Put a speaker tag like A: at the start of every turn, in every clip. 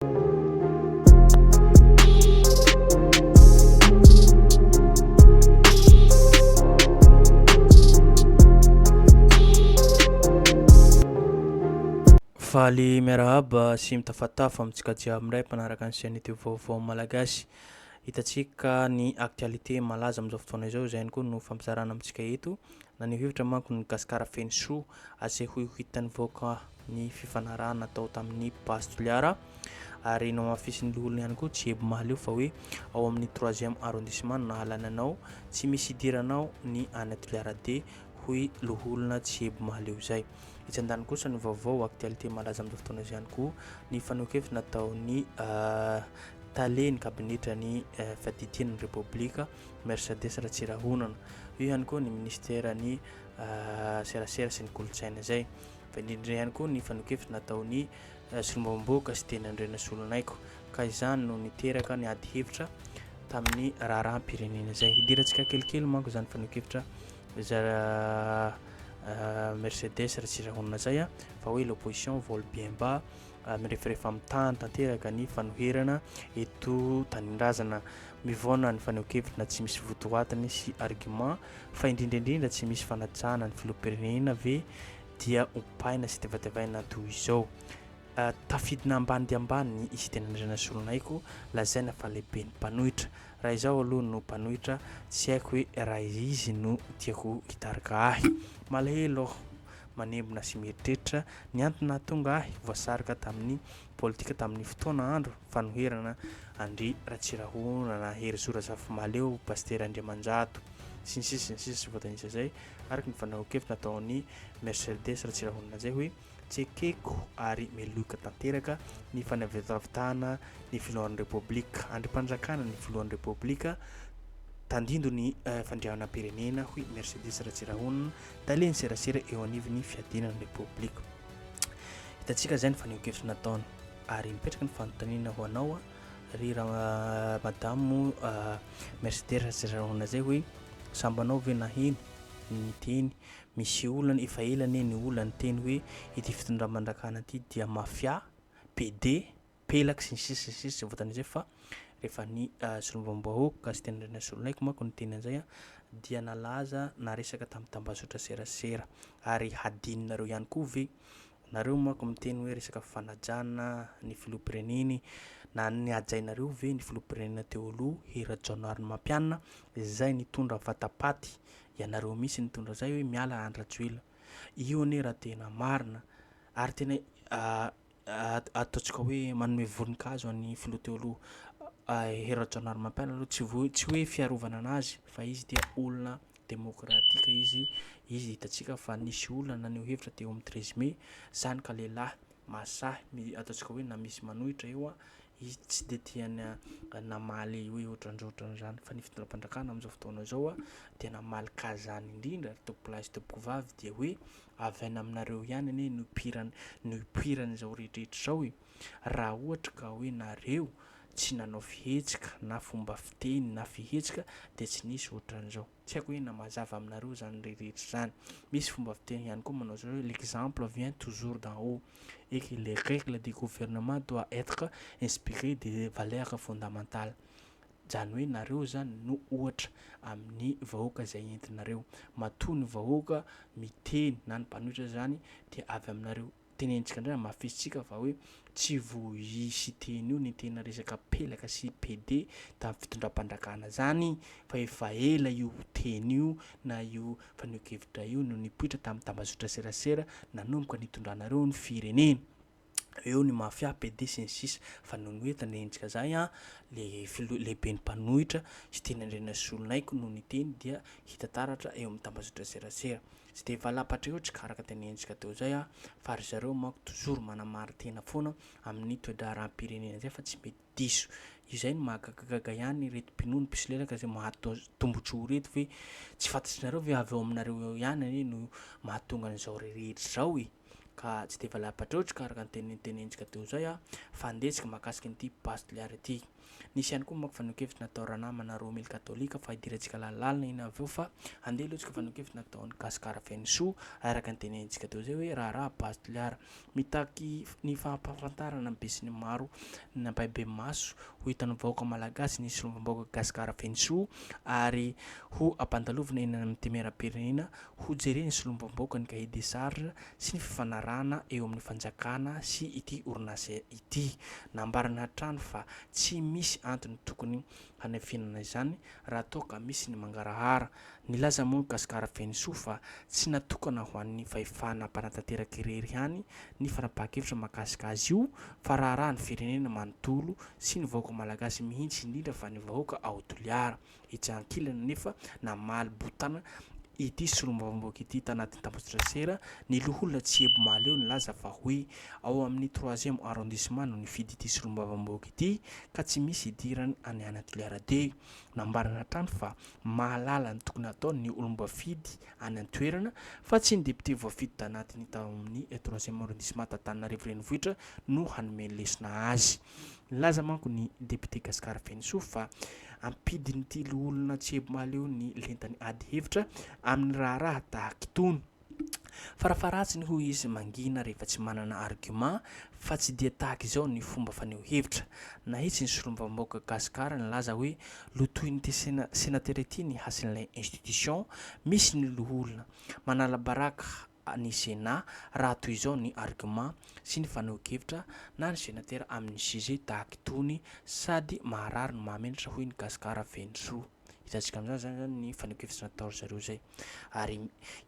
A: Faly miarahaba sy mitafatafa amintsika jiaby indray mpanaraka ny chaîne youtube vaovao malagasy. Hitantsika ny actualité malaza amin'izao fotoana izao, izay ihany koa no fampizarana amintsika eto. Naneho hevitra manko ny Gasikara Fenosoa asehoy ho hitan'ny vahoaka ny fifanarahana natao tamin'ny Base Toliara ary namafisin'ny loholona ihany koa Jiebo Mahaleo fa hoe ao amin'ny troisième arrondissement no nahalany anao, tsy misy hidiranao ny any Toliara D hoy loholona Jiebo Mahaleo izay. Etsy an-daniny kosa ny vaovao actualité malaza amin'izao fotoana izao ihany koa ny fanehoan-kevitra nataon'ny tale ny kabinetran'ny fiadidiana ny Repoblika Mercedes Ratsirahonana. Eo ihany koa ny Ministeran'ny Serasera sy ny Kolontsaina izay. Fa indrindra ihany koa ny fanehoan-kevitra nataon'ny Solombavambahoaka sy teny Andrianasolonaiky. Ka izany no niteraka ny ady hevitra tamin'ny raharaham-pirenena izay. Hidirantsika kelikely manko izany fanehoan-kevitra zara Mercedes Ratsirahonana izay fa hoe l'opposition vole bien bas ary mirefarefa amin'ny tany tanteraka ny fanoherana eto tanindrazana mivaona ny fanehoan-kevitra tsy misy votoatiny sy argument fa indrindra indrindra tsy misy fanajana ny filoham-pirenena ve dia ompaina sy tevatevaina toy izao ah, tafidina ambany dia ambany i Sitenandriana Solonaiky lazaina fa lehibe ny mpanohitra raha izaho aloha no mpanohitra tsy haiko hoe raha izy no tiako hitarika ahy malahelo aho manembona sy mieritreritra ny antony nahatonga ahy voasarika tamin'ny politika tamin'ny fotoana andro fanoherana an-dry Ratsirahonana, Herizo Razafimahaleo, Pasitera Andriamanjato, sy ny sisa sy ny sisa tsy voatanisa izay, araka ny fandrahoan-kevitra nataon'i Merceldes Ratsirahonana izay hoe tsekeko ary meloiko tanteraka ny fanavitavitana ny filohan'ny Repoblika, andrim-panjakana ny filohan'ny Repoblika, tandindon'ny fandriahanam-pirenena, hoy Mercedes Ratsirahonana tale ny serasera eo anivon'ny fiadiana ny repoblika. Hitantsika izay ny fanehonkevitra nataony ary mipetraka ny fanontaniana ho anao a ry raha madamo mercedes ratsirarona zay hoe sambanao ve naheno ny teny misy olana efa elane ny olany teny hoe ity fitondra mandrakana ity dia mafia pd pelaka sy ny sisa sy ny sisa tsy voatan'ny izay fa rehefa ny solombavambahoaka Gaston Andrianasolonaiko manko niteny an'izay a dia nalaza naresaka tamin'ny tambazotra serasera ary hadinonareo ihany koa ve nareo manko miteny hoe resaka fanajana ny filoham-pireneny na ny hajainareo ve ny filoham-pirenena teo aloha Hery Rajaonarimampianina izay nitondra vatapaty ianareo mihitsy nitondra izay hoe miala Andry Rajoelina io anie raha tena marina ary tena ataontsika hoe manome voninkazo an'ny filoha teo aloha Hery Rajaonarimampianina aloha tsy voa- tsy hoe fiarovana anazy fa izy dia olona demokratika izy, izy hitantsika fa nisy olona naneho hevitra teo amin'ny treize mai, izany ka lehilahy mahasahy mi- ataontsika hoe na misy manohitra eo an, izy tsy dia tia na- namaly hoe ohatran'izao ohatran'izao izany fa ny fitondram-panjakana amin'izao fotoana izao an dia namaly kazàny indrindra ary tompolahy sy tompovavy dia hoe Avy any aminareo ihany anie no no ipoiran'izao rehetra izao e! Raha ohatra ka hoe nareo tsy nanao fihetsika na fomba fiteny na fihetsika dia tsy nisy ohatran'izao. Tsy haiko hoe na mazava aminareo izany rehetra izany. Misy fomba fiteny ihany koa manao izao hoe l'exemple vient toujours d'en haut et que les règles de gouvernement doit être inspirées des valeurs fondamentales. Zany hoe nareo zany no ohatra amin'ny vahoaka zay entinareo. Matoa ny vahoaka miteny na ny mpanohitra zany dia avy aminareo. Tenenitsika ndray hamafisitsika fa hoe tsy voaisy teny io ny tena resaka pelaka sy PD tamin'ny fitondram-pandrakana zany fa efa ela io teny io na io fanehoan-kevitra io no nipoitra tamin'ny tambazotra serasera nanomboka nitondranareo ny firenena. eo ny mafia, PD sy ny sisa fa noho ny hoe tandrenintsika zay an, le filoha lehiben'ny mpanohitra sy teny Andrianasolonaiko no niteny dia hita taratra eo amin'ny tambazotra serasera. Tsy dia valapatra eo tsika araka tenenintsika teo zay an, fa ry zareo manko toujours manamarin-tena foana amin'ny toe-draharaham-pirenena zay fa tsy mety diso. Izay no mahagagagaga ihany ireto mpinono mpisolelaka izay mahatonga tombotsoa ireto ve tsy fantatr'inareo ve avy ao aminareo ao ihany anie no mahatonga an'izao rehetra izao e! ka tsy dia valapatreotra ka araka ny teny notenentsika teo izay a! fandehitsika mahakasika an'ity base de l'air ity. Nisy ihany koa manko fanekevitra natao ranamana roa mille katolika fa idirantsika lalalalna iny avy eo fa andeha aloha tsika fanekevitra nataon'i Gasikara Fenosoa araka ny tenentsika teo izay hoe raharaha base de l'air Mitaky ny fampahafantarana ny besinimaro ny ampahibemaso ho hitan'ny vahoaka malagasy ny solombavambahoaka Gasikara Fenosoa ary ho ampandalovina eny amin'ny Temerampirenena ho jeren'ny solombavambahoaka ny Cahier des charges sy ny fifanarahana eo amin'ny fanjakana sy ity orinasa ity. Nambarany hatrany fa tsy misy antony tokony fanenfenana izany raha toa ka misy ny mangarahara. Nilaza moa ny Gasikara Fenosoa fa tsy natokana ho an'ny fahefana mpanatanteraka irery ihany ny fanapahan-kevitra mahakasika azy io fa raharahan'ny firenena manontolo sy ny vahoaka malagasy mihitsy indrindra fa ny vahoaka ao Toliara. Etsy ankilany anefa namaly botana ity solombavambahoaka ity tanatin'ny tambajotran-tsera ny loholona Tsiebo Mahaleo nilaza fa hoe ao amin'ny troisième arrondissement no nifidy ity solombavambahoaka ity ka tsy misy idirany any Anatoliara-D. Nambarany hatrany fa mahalala ny tokony hataony ny olom-boafidy any an-toerana fa tsy ny député voafidy tanatiny tao amin'ny troisième arrondissement t'Antananarivo Renivohitra no hanome lesona azy. Nilaza manko ny député Gascar Fenisoa fa ampidin'ity loholona Tsiebomaleo ny lentany ady hevitra amin'ny raharaha tahaka itony. Farafaharatsiny hoy izy mangina rehefa tsy manana argument fa tsy dia tahaka izao ny fomba faneho hevitra. Nahitsy ny solombavambahoaka Gasikara nilaza hoe lotoin'ity senatera ity ny hasin'ilay institution misy ny loholona. Manala baraka ny Sénat raha toy izao ny argument sy ny fanehoan-kevitra na ny senatera amin'ny sujet tahaka itony sady maharary no mahamenatra hoy ny Gasikara Fenosoa. hitantsika amin'izany zany zany ny fanekevitra natao ry zareo zay ary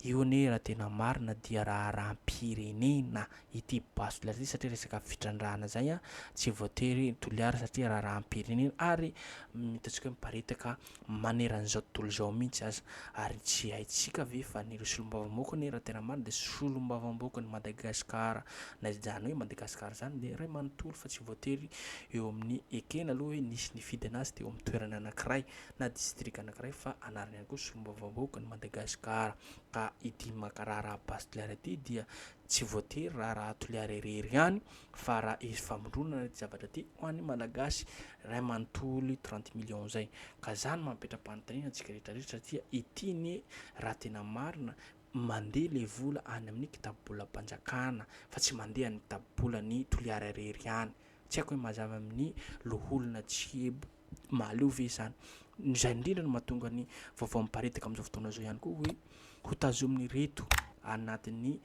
A: io anie raha tena marina dia raharaham-pirenena ity basy toliara ity satria resaka fitrandrahana zay a tsy voatery toliara satria raharaham-pirenena ary hitantsika hoe miparitaka maneran'izao tontolo izao mihitsy aza ary tsy haintsika ve fa ny ireo solombavambahoaka anie raha tena marina dia solombavambahoakan'i Madagasikara na izany hoe Madagasikara izany dia iray manontolo fa tsy voatery eo amin'ny ekena aloha hoe nisy nifidy anazy teo amin'ny toerana anankiray na distrika anankiray fa anarina ihany koa solombavambahoaka ny Madagasikara ka ity Makara Rabasy Toliara ity dia tsy voatery raharaha Toliara irery ihany fa raha hisy famondronana ity zavatra ity ho an'ny Malagasy iray manontolo trente millions izay ka izany mampetra-panontaniana antsika rehetra rehetra satria ity anie raha tena marina Mandeha ilay vola any amin'ny kitabobolam-panjakana fa tsy mandeha any kitabobolan'i Toliara irery ihany. Tsy haiko hoe mazava amin'ny loholona Tsiebo Mahaleo ve izany. Izay indrindra no mahatonga ny vaovao miparitaka amin'izao fotoana izao ihany koa hoe hotazomin'ireto anatin'ny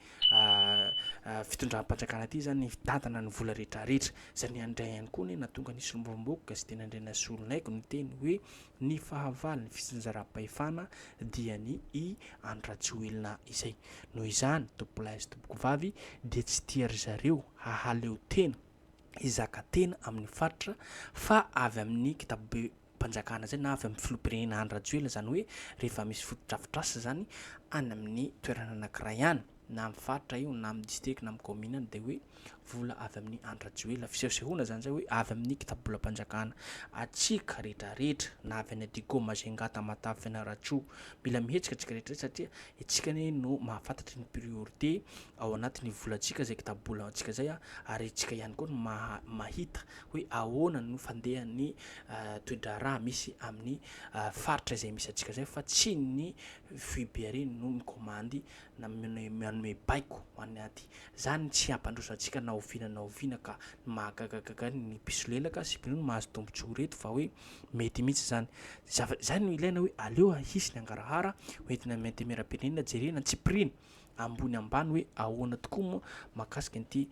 A: fitondram-panjakana ity izany ny fitantana ny vola rehetrarehetra. Izay indray ihany koa anie nahatonga ny solombavambahoaka Gazety Ny Andrianasolo Naiko niteny hoe Ny fahavalon'ny fitsinjaram-pahefana dia ny i Andry Rajoelina izay. Noho izany, tompolahy sy tompokovavy dia tsy tia ry zareo hahaleo tena, hizaka tena amin'ny faritra fa avy amin'ny kitabom-panjakana izay na avy amin'ny filoham-pirenena Andry Rajoelina izany hoe rehefa misy fotodrafitrasa izany any amin'ny toerana anankiray any. na amin'ny faritra io na amin'ny distrika na amin'ny kaominina any dia hoe vola avy amin'ny an-dRajoelina. Fisehosehoana izany izay hoe avy amin'ny kitabolam-panjakana. Hatsiaka rehetrarehetra na avy any Adigo, Majunga, Tamatave, Fianarantsoa. Mila mihetsika isika rehetrarehetra satria isika anie no mahafantatra ny priorité ao anatin'ny volantsika izay kitabolantsika izay ary isika ihany koa no maha- mahita hoe ahoana no fandehan'ny toe-draharaha misy amin'ny faritra izay misy antsika izay fa tsy ny foibe irery no mikomandy na manome baiko ho an'ny ady. Izany no tsy hampandroso antsika na oviana na oviana ka ny mahagagagaga ny mpisolelaka sy mpino no mahazo tombontsoa ireto fa hoe mety mihitsy izany. Zava- Izany no ilaina hoe aleo hisy ny hangarahara ho entina amin'ny antemeram-pirenena jerena antsipiriany ambony ambany hoe ahoana tokoa moa mahakasika an'ity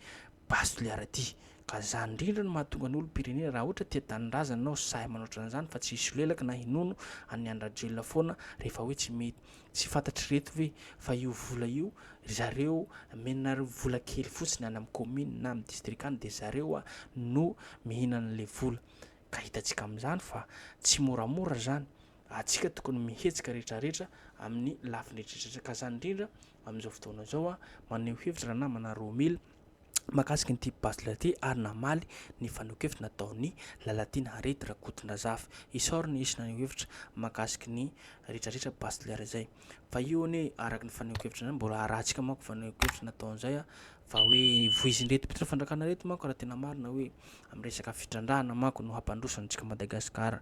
A: base de liard ity. Ka izany indrindra no mahatonga ny olom-pirenena raha ohatra tia tanindrazana ianao sahy manao ohatran'izany fa tsy hisolelaka na hinono an'i Andry Rajoelina foana rehefa hoe tsy mety Tsy fantatr'ireto ve fa io vola io ry zareo menareo vola kely fotsiny any amin'ny commune na amin'ny district any dia zareo no mihinana an'ilay vola ka hitantsika amin'izany fa tsy moramora izany atsika tokony mihetsika retraretra amin'ny lafiny retraretra ka izany indrindra amin'izao fotoana izao maneho hevitra ranamana Romil mahakasika ity Bachelor ity ary namaly ny fanehoan-kevitra nataon'i Lalatiana Harriet Rakotondrazafy. Isaoriny ny hisy naneho hevitra mahakasika ny retraretra Bachelor izay. Fa io anie araka ny fanehoan-kevitra izany mbola arahantsika manko fanehoan-kevitra nataon'izay a, fa hoe voizin'ireto mpitondra fandrakana ireto manko raha tena marina hoe amin'ny resaka fitrandrahana manko no hampandroso antsika Madagasikara.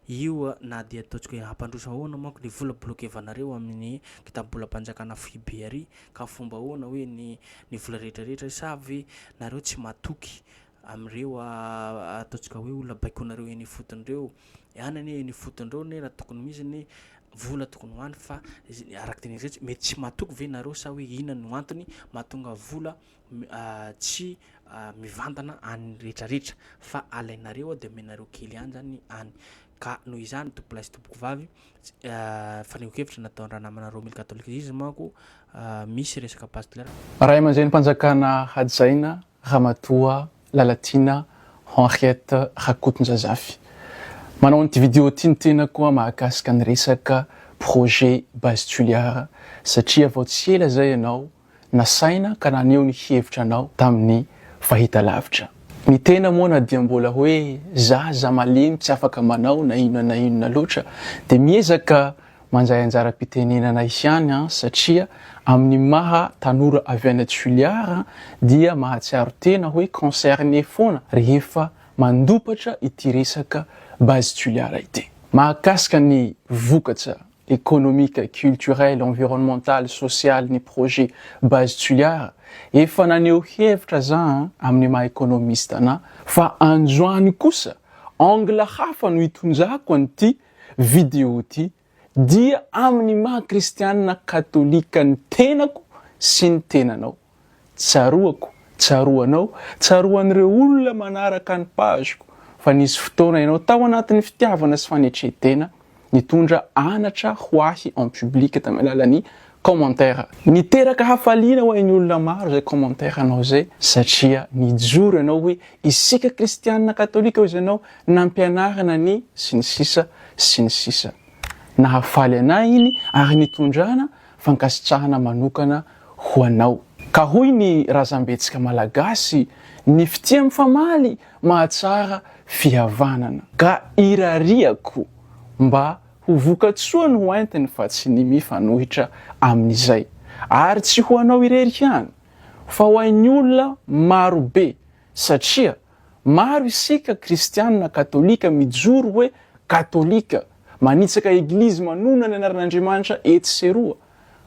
A: Io na dia ataontsika hoe hampandroso ahoana manko ny vola bloquer-vanareo amin'ny kitabolam-panjakana foibe ary Ka fomba ahoana hoe ny ny vola rehetra rehetra sa ve nareo tsy matoky amin'ireo ataontsika hoe olona baikoinareo eny ifotony ireo? Any anie eny ifotony ireo anie raha tokony misy anie vola tokony ho any fa araka ny tenen'izay mety tsy matoky ve nareo sa hoe inona no antony mahatonga vola tsy mivantana any rehetra rehetra fa alainareo ao de omenareo kely any zany any ka noho izany tompo lahy sy tompoko vavy fanehoan kevitra nataon'ny ranamanareo mille catholicisme manko misy resaka pasteur Ray aman-drenim-panjakana
B: hajaina Ramatoa Lalatiana Henriette Rakotonjazafy. Manao an'ity vidéo ity ny tenako an mahakasika ny resaka projet Base Tuliard satria vao tsy ela izay ianao nasaina ka naneho ny hevitra anao tamin'ny fahitalavitra. Ny tena moa na dia mbola hoe zaza malemy tsy afaka manao na inona na inona loatra dia miezaka mandray anjaram-pitenenana ihany an satria amin'ny maha tanora avy any Toliara an dia mahatsiaro tena hoe concerné foana rehefa mandopatra ity resaka Base Toliara ity. Mahakasika ny vokatra économique, culturel, environnemental, social ny projet Base Tsuliara, efa naneho hevitra za amin'ny maha économiste anà fa androany kosa angle hafa no itondrako an'ity vidéo ity dia amin'ny maha kristianina katolika ny tenako sy ny tenanao. Tsaroako, tsaroanao, tsaroan'ireo olona manaraka ny page-ko fa nisy fotoana ianao tao anatin'ny fitiavana sy fanetren-tena nitondra anatra ho ahy en public tamin'ny alalan'ny commentaire. Niteraka hafaliana ho an'ny olona maro izay commentaire-nao izay satria nijoro ianao hoe isika kristianina katolika hoy ianao nampianarina ny sy ny sisa sy ny sisa. Nahafaly anay iny ary nitondrana fankasitrahana manokana ho anao. Ka hoy ny razambetsika malagasy, ny fitia mifamaly mahatsara fihavanana. Ka irariako mba ho vokatsoa no entiny fa tsy ny mifanohitra amin'izay. Ary tsy ho anao irery ihany fa ho ain'ny olona marobe. satria maro isika kristianina katolika mijoro hoe katolika, manitsaka eglizy manonona ny anaran'Andriamanitra etsy sy eroa,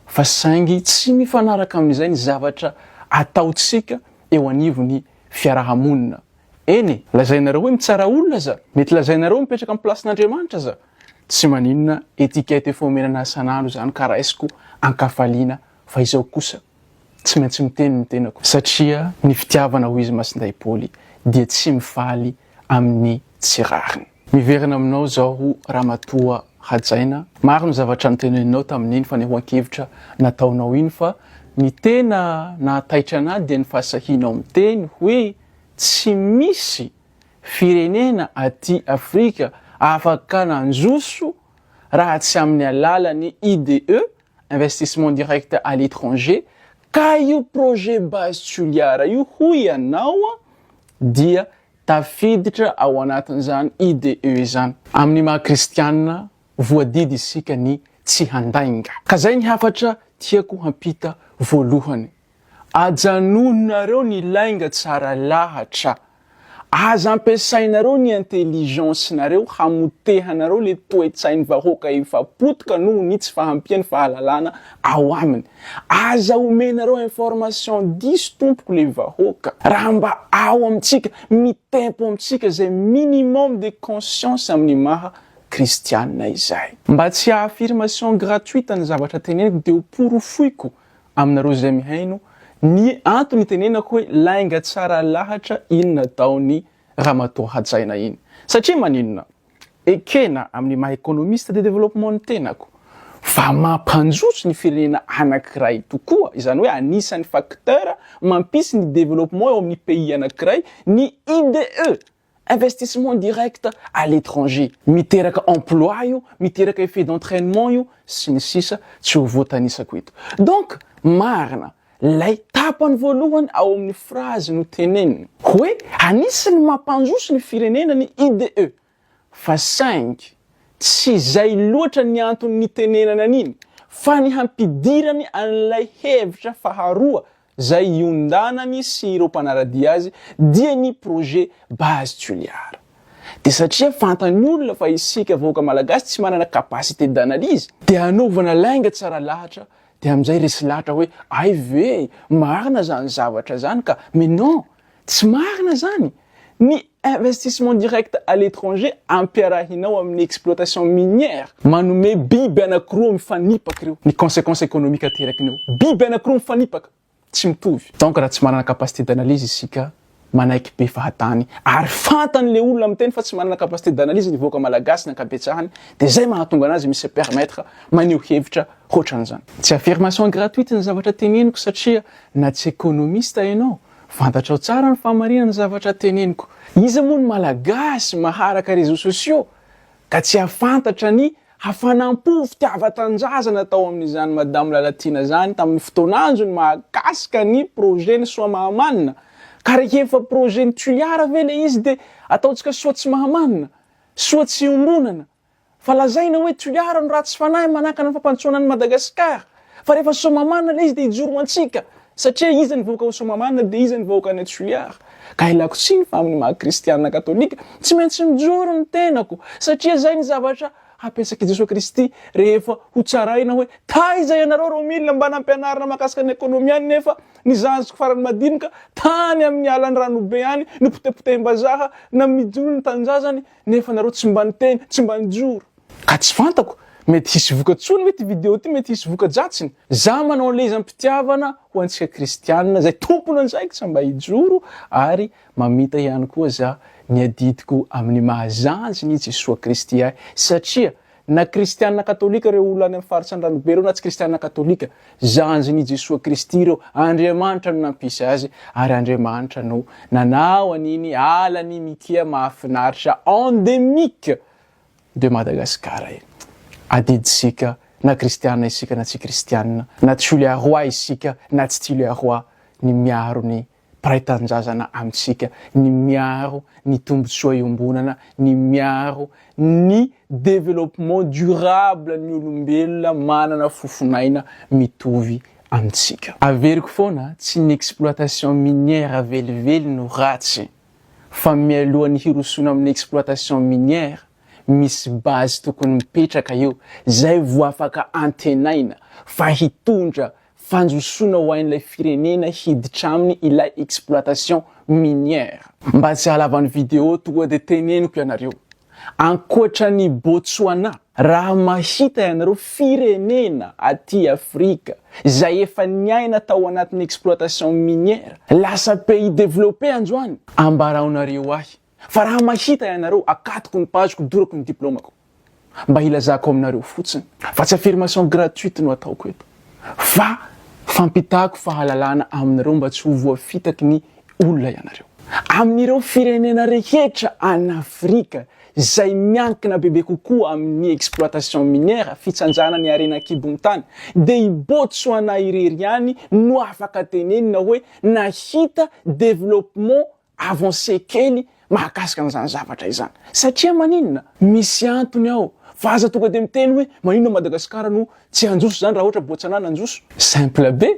B: fa saingy tsy mifanaraka amin'izay ny zavatra ataontsika eo anivon'ny fiaraha-monina. Eny e! Lazainareo hoe mitsara olona aza, mety lazainareo hoe mipetraka amin'ny plasin'Andriamanitra aza, tsy maninona, etiquette efa omena an'ahy isan'andro izany ka raisiko an-kafaliana, fa izao kosa. Tsy maintsy miteny ny tenako satria ny fitiavana ho izy Masindahy Paoly dia tsy mifaly amin'ny tsy rariny. Miverina aminao izao Ramatoa Hajaina, maro ny zavatra noteneninao tamin'iny fanehoan-kevitra nataonao iny fa ny tena nahataitra an'ahy dia ny fahasahianao miteny hoe tsy misy firenena aty Afrika afaka nandroso raha tsy amin'ny alalan'ny IDE investissement direct à l'étranger, ka io projet base Toliara io hoy ianao dia tafiditra ao anatin'izany IDE izany. Amin'ny maha kristianina, voadidy isika ny tsy handainga. Ka zay ny hafatra tiako hampita voalohany. Ajanononareo ny lainga tsara lahatra. Aza ampiasainareo ny intelligence nareo hamotehanareo le toetsainy vahoaka efa potika noho ny tsy fahampiany fahalalana ao aminy. Aza omenareo information diso tompoko le vahoaka. Raha mba ao amintsika, mitempo amintsika zay minimum de conscience amin'ny maha kristianina izay. Mba tsy haha affirmation gratuite ny zavatra teneniko de ho porofoiko Aminareo izay mihaino, ny antony itenenako hoe lainga tsara lahatra iny nataon'i Ramatoa Hajaina iny. Satria maninona? Ekena amin'ny maha économiste de développement ny tenako fa mampanjoso ny firenena anankiray tokoa, izany hoe anisan'ny facteur mampisy ny développement eo amin'ny pays anankiray ny IDE Investissement direct à l'étranger, miteraka emploi io, miteraka effet d'entrainement io, sy ny sisa Tsy ho voatanisako eto. Donc, marina, lay tapany voalohany ao amin'ny phrase notenenina, hoe anisan'ny mampandroso ny firenena ny IDE, fa saingy tsy izay loatra ny antony nitenenana an'iny, fa ny hampidirany an'ilay hevitra faharoa izay iondanany sy ireo mpanara-dia azy dia ny projet Base Toliara. Dia satria fantany olona fa isika vahoaka malagasy tsy manana capacité d'analyse, dia anaovana lainga tsara lahatra dia amin'izay resy lahatra hoe ay ve marina izany zavatra izany ka, mais non! Tsy marina izany! Ny investissement direct à l'étranger ampiarahinao amin'ny exploitation minière, manome biby anakiroa mifanipaka ireo, ny consequence économique aterakiny eo, biby anakiroa mifanipaka, tsy mitovy. Donc raha tsy manana capacité d'analyse isika, manaiky be fahatany, ary fantany le olona miteny fa tsy manana capacité d'analyse ny vahoaka malagasy ny ankabetsahany, dia zay mahatonga anazy mi se permettre maneho hevitra hoatran'izany. Tsy affirmation gratuite ny zavatra teneniko satria Na tsy ekonomista ianao, fantatrao tsara ny fahamarinan'ny zavatra teneniko. Iza moa ny Malagasy maharaka réseaux sociaux ka tsy hahafantatra ny hafanam-po, fitiavan-tanindrazana tao amin'izany Madame Lalatiana izany tamin'ny fotoan'anjony mahakasika ny projet ny soa mahamanina. Ka rehefa projet ny Tuliara ve ilay izy dia ataontsika soa tsy mahamanina? Soa tsy iombonana? Fa lazaina hoe toliara ny ratsy fanahy manakana ny fampandrosoana an'i Madagasikara. Fa rehefa Soamahamanina ilay izy dia hijoro ho antsika. Satria iza ny vahoaka ao Soamahamanina dia iza ny vahoaka any Toliara. Ka ilako tsiny fa amin'ny maha kristiana katolika tsy maintsy mijoro ny tenako satria izay ny zavatra hapetraky Jesoa Kristy rehefa ho tsaraina hoe taiza ianareo ro mila mba nampianarina makasika ny ekonomy any nefa ny zaziko farany madinika tany amin'ny alan'ny ranobe any nopotepotehim-bazaha na midolon'ny tanindrazany nefa nareo tsy mba niteny, tsy mba nijoro. Ka tsy fantako, mety hisy voka-tsoany ve ity video ity, mety hisy voka-dratsiny? Za manao an'ilay izy am-pitiavana ho antsika kristianina, izay tompon'andraikitra mba hijoro, ary mamita ihany koa za ny adidiko amin'ny maha zandriny i Jesoa Kristy ahy, satria Na kristianina katolika ireo olona any amin'ny faritra Andranobe ireo na tsy kristianina katolika, zandriny i Jesoa Kristy ireo, Andriamanitra no nampisy azy ary Andriamanitra no nanao an'iny ala an'i Mikia mahafinaritra endemique de Madagascar iny. Adidintsika na kristianina isika na tsy kristianina, na Tchuliarois isika na tsy Tchuliarois ny miaro ny mpiray tanindrazana amintsika, ny miaro ny tombotsoa iombonana, ny miaro ny développement durable ny olombelona manana fofon'aina mitovy amintsika. Averiko foana, tsy ny exploitation minière velively no ratsy, fa mialohan'ny hirosoana amin'ny exploitation minière, misy base tokony mipetraka eo, izay vao afaka antenaina fa hitondra fanjosoana ho ain'ilay firenena hiditra aminy ilay exploitation minière. Mba tsy halavan'ny video tonga dia teneniko ianareo, ankoatran'i Botswana, raha mahita ianareo firenena aty Afrika izay efa niaina tao anatin'ny exploitation minière lasa pays développé androany, ambarao nareo ahy. Fa raha mahita ianareo akatoko ny page-ko dorako ny diplômako mba hilazako aminareo fotsiny fa tsy affirmation gratuite no ataoko eto fa fampitako fahalalana aminareo mba tsy ho voafitaky ny olona ianareo. Amin'ireo firenena rehetra any Afrika izay miankina bebe kokoa amin'ny exploitation minière, fitsanjana ny harena an-kibon'ny tany, dia i Botsoana irery ihany no afaka tenenina hoe nahita développement Avancer kely mahakasika an'izany zavatra izany. Satria maninona? Misy antony ao. Fa aza tonga dia miteny hoe maninona Madagascar no tsy hanjoso izany raha ohatra Botswana nanjoso. Simple be.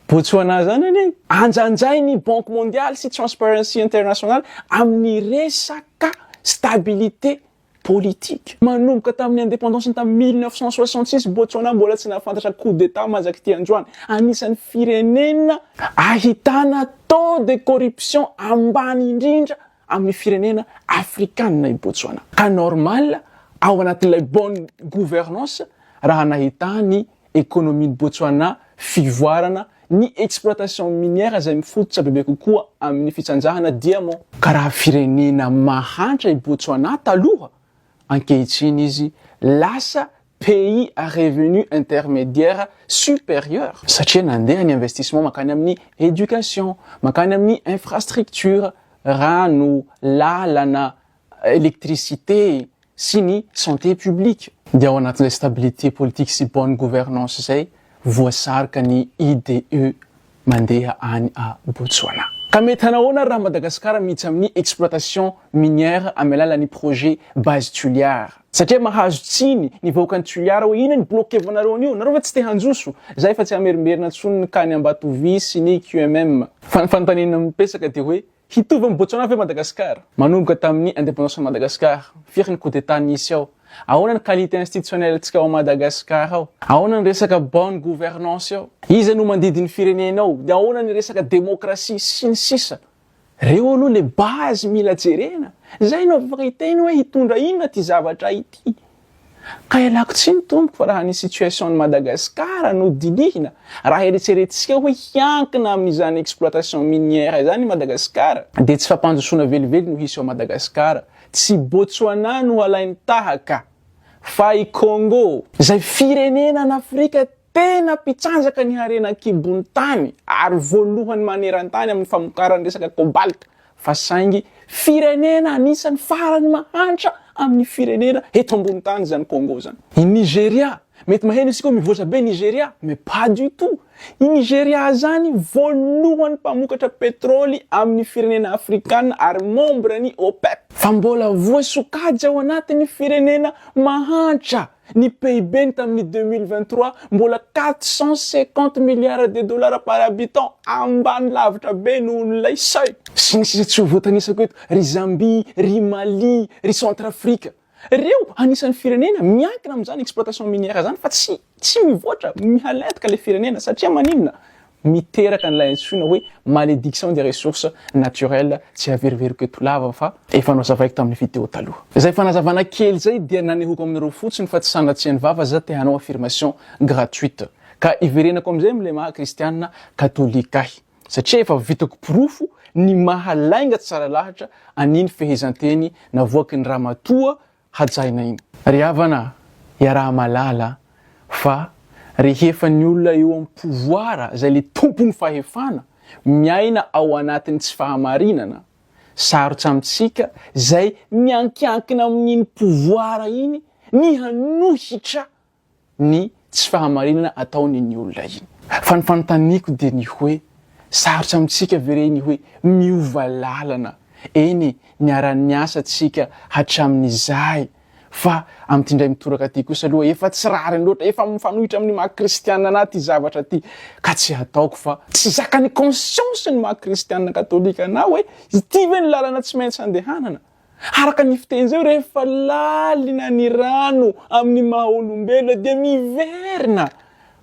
B: Botswana izany anie. Anjanjain'ny Banque Mondiale sy Transparency International amin'ny resaka stabilité politika. Manomboka tamin'ny indépendance-ny tamin'ny mille neuf cent soixante six, Botswana mbola tsy nahafantatra coup d'Etat mahazak'ity androany. Anisan'ny firenena ahitana taux de corruption ambany indrindra amin'ny firenena afrikanina i Botswana. Ka normal ao anatin'ilay bonne gouvernance raha nahitany ekonomian'i Botswana fivoarana ny exploitation minière izay mifototra bebe kokoa amin'ny fitsanjahana diamant. Ka raha firenena mahantra i Botswana taloha, ankehitriny izy lasa pays à revenu intermédiaire supérieur, satria nandeha ny investissement mankany amin'ny éducation, mankany amin'ny infrastructure, rano, lalana, électricité sy ny santé publique. Dia ao anatin'izay stabilité politique sy bonne gouvernance izay voasarika ny IDE mandeha any à Botswana. Ka mety hanao ahoana ary raha Madagascar miditra amin'ny exploitation minière amin'ny alalan'ny projet base Tuliar? Satria mahazo tsiny ny vahoakan'i Tuliar hoe inona ny blokevanareo an'io? Nareo ve tsy te hanjoso? Za efa tsy hamerimberina intsony ny cas-n'i Ambatovy sy ny QMM. Fa ny fanontaniana mipesaka dia hoe Hitovy amin'i Botswana ve Madagasikara? Manomboka tamin'ny indépendance an'i Madagasikara, firy ny coup d'état nisy ao? Ahoana ny qualité institutionnelle-ntsika ao Madagasikara ao? Ahoana ny resaka bonne gouvernance ao? Iza no mandidy ny firenena ao? Dia ahoana ny resaka démocratie? Sy ny sisa Reo aloha le base mila jerena, zay no afaka hiteny hoe hitondra inona ty zavatra ity. Ka ialako tsiny tompoko raha ny situation an'i Madagascar no dinihina, raha eretseretintsika hoe hiankina amin'izany exploitation minière izany i Madagascar, dia tsy fampandrosoana velively no hisy ao Madagascar, tsy i Botswana no halainy tahaka, fa i Congo, izay firenena an'Afrika Tena mpitsanjaka ny harena an-kibon'ny tany ary voalohany maneran-tany amin'ny famokarana ny resaka cobalt fa saingy firenena anisan'ny farany mahantra amin'ny firenena eto ambony tany izany Congo izany. I Nigeria, mety maheno isika hoe mivoatra be Nigeria, mais pas du tout. I Nigeria izany voalohany mpamokatra petrole amin'ny firenena afrikana ary membre ny OPEP. Fa mbola voasokajy ao anatin'ny firenena mahantra. Ny PIB-ny tamin'ny deux mille vingt trois, mbola quatre cent cinquante milliards de dollars par habitant, ambany lavitra be nohon'ilay seuil. Sy ny sisa tsy ho voatanisako eto, ry Zambie, ry Mali, ry Centrafrique. Ireo anisan'ny firenena miankina amin'izany exploitation minière izany fa tsy tsy mivoatra, mihalentika ilay firenena satria maninona? miteraka an'ilay antsoina hoe malédiction des ressources naturelles, tsy haveriveriko eto lava fa efa nozavaiko tamin'ny video taloha. Izay fanazavana kely izay dia nanehoko aminareo fotsiny fa tsy sanatrian'ny vava za te hanao affirmation gratuite ka iverenako amin'izay amin'ilay maha kristiana katolika ahy satria efa vitako porofo ny maha lainga tsara lahatra an'iny fehezanteny navoakin'ny ramatoa hajaina iny. Ry havana, iaraha-mahalala fa rehefa ny olona eo amin'ny pouvoir izay ilay tompon'ny fahefana miaina ao anatin'ny tsy fahamarinana, sarotra amintsika izay miankiankina amin'iny pouvoir iny ny hanohitra ny tsy fahamarinana ataon'iny olona iny. Fa ny fanontaniako dia ny hoe, sarotra amintsika ve re ny hoe miova lalana? Eny e, niara-niasa tsika hatramin'izay, fa amin'ity indray mitoraka ity kosa aloha efa tsy rariny loatra, efa mifanohitra amin'ny maha kristiana anà ity zavatra ity, ka tsy hataoko fa. Tsy zakan'ny conscience ny maha kristiana katolika anà hoe ity ve no lalana tsy maintsy andehanana? Araka ny fiteny izao, rehefa lalina ny rano amin'ny maha olombelona dia miverina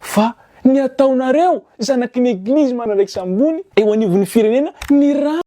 B: fa ny ataonareo zanaky ny eglizy manaraiksa ambony eo anivon'ny firenena ny rano.